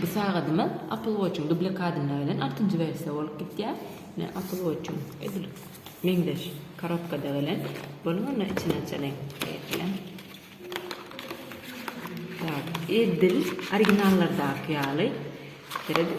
Bu sagadymyz Apple Watch-yň dublik adynda gelen altynjy wersiýa bolup gidýär. Ine Apple Watch-yň edil meňzeş korobkada gelen. Boluň onda içini açalyň. Bilen. Edil originallardaky ýaly. Serediň.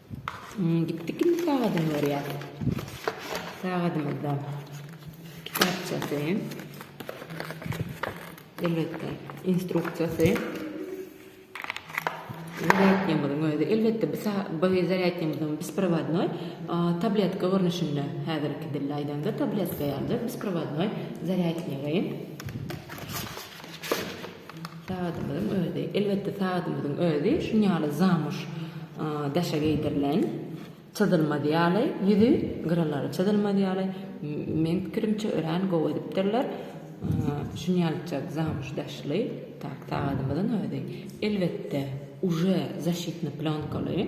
Gitdik indi sagadyny görýär. Sagadymyzda kitapçasy. Elbetde instruksiýasy. Zarýadkymyzyň özi. Elbetde bu bu zarýadkymyzyň besprovodnoý tabletka görnüşinde häzirki dilde aýdanda tabletka ýalydyr. Besprovodnoý zarýadkymyzy. Sagadymyzyň özi, elbetde sagadymyzyň özi şun ýaly zamuş daşa geýdirilen, çyzylmaz ýaly, ýüzi, gyralary çyzylmaz ýaly, meň pikirimçe örän gowy edipdirler. Şun ýalyjak zamuş daşly sagadymyzyň özi, elbetde, uje zaşitny plýonkaly.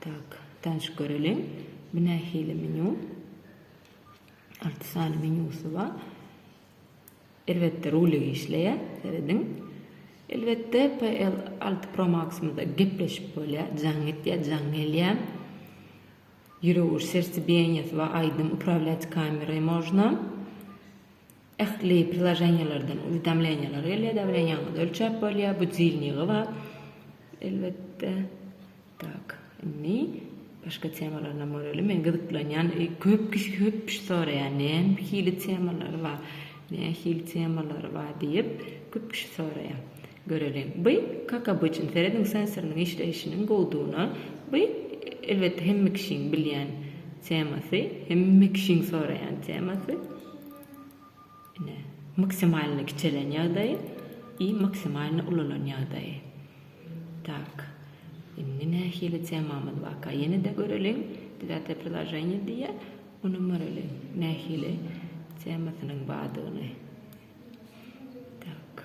Tak, tanyşyp göreliň. Bu nähili menýu? Alty sany menýusy bar. Elbetde, rulik işleýär. Serediň. Elbetde, PL alty Pro Max-ymyzda gepleşip bolýar. Jaň etýär, jaň gelýär. Ýürek urşy, sertsebiýenýesy bar. Aýdyň, uprablýat kamery można. Ähli priloženiýalardan uwidomleniýalar gelýär dagy bilen ýalňyz ölçäp bolýar bu dilniýgi bar elbetde tak indi başga temalarynam bar öli men gyzyklanýan köp kişi köp kişi soraýar nähili temalary bar nähili temalary bar diýip köp kişi soraýar. Göreli. By, kak obyçn, serediň sensorynyň işleýşiniň gowudygyna, by, elbetde, hemme kişiň bilýän temasy, hemme kişiň soraýan temasy, ine, maksimalny kiçelen ýagdaýy i maksimalny ulalan ýagdaýy. Tak. Indi nähili temamyz barka, ýene-de göreliň, Devýatýe priloženiýe diýýär, onam göreli, nähili temasynyň bardygyny. Tak.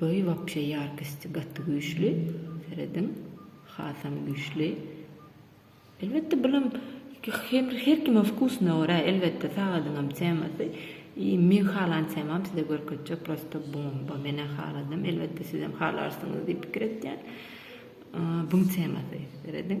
Boý wapşe ýarkysty gaty güýçli serediň hasam güýçli elbetde bulam her kime wkusuna görä elbetde sagadyňam temasy i meň halan temam size görkezjek prosta bomba menä haladym elbetde sizem halarsyňyz diýip pikir etýän buň temasy serediň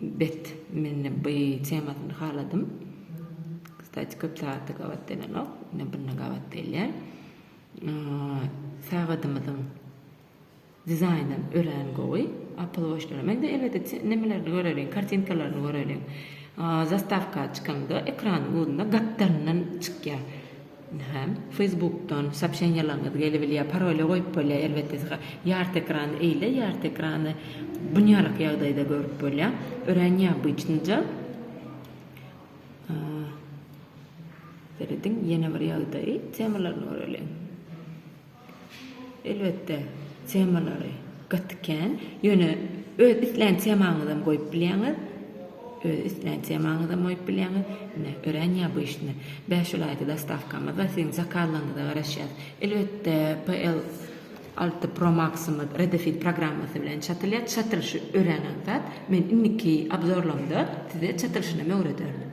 Bet mende by temasyny haladym. Kstati köp sagatda gabat gelenok. Ine bunda gabat gelýär. Sagadymyzyň dizaýny örän gowy. Apple Watch'da men de elbetde nemelerini göreliň, kartinkalaryny göreliň. Zastawka çykanda ekranyň uzunda gapdalyndan çykýar. Hä, Facebookdan soobşeniýalaryňyz gelibilýär, paroly goýup bolýar elbetde syga. Ýarty ekrany eýle, ýarty ekrany bunýalyk ýagdaýda görüp bolýar. Örän neobıçnyja. Serediň ýene bir ýagdaý, temalaryny göreliň. Elbetde, temalary gaty kän. Ýöne öz islän temaňyzam goýup bilýäňiz. Öz islän temaňyzam goýup bilýäňiz. Ine, örän ýabyşny. Bäş welaýata dostawkamyz bar. Siziň zakazlaryňyza garaşýas. Elbetde, PL alty Pro Max-ymyz Redefit programmasy bilen çatylýar. Çatylyşy örän aňsat. Men indiki obzorlamda size çatylyşynam öwrederin.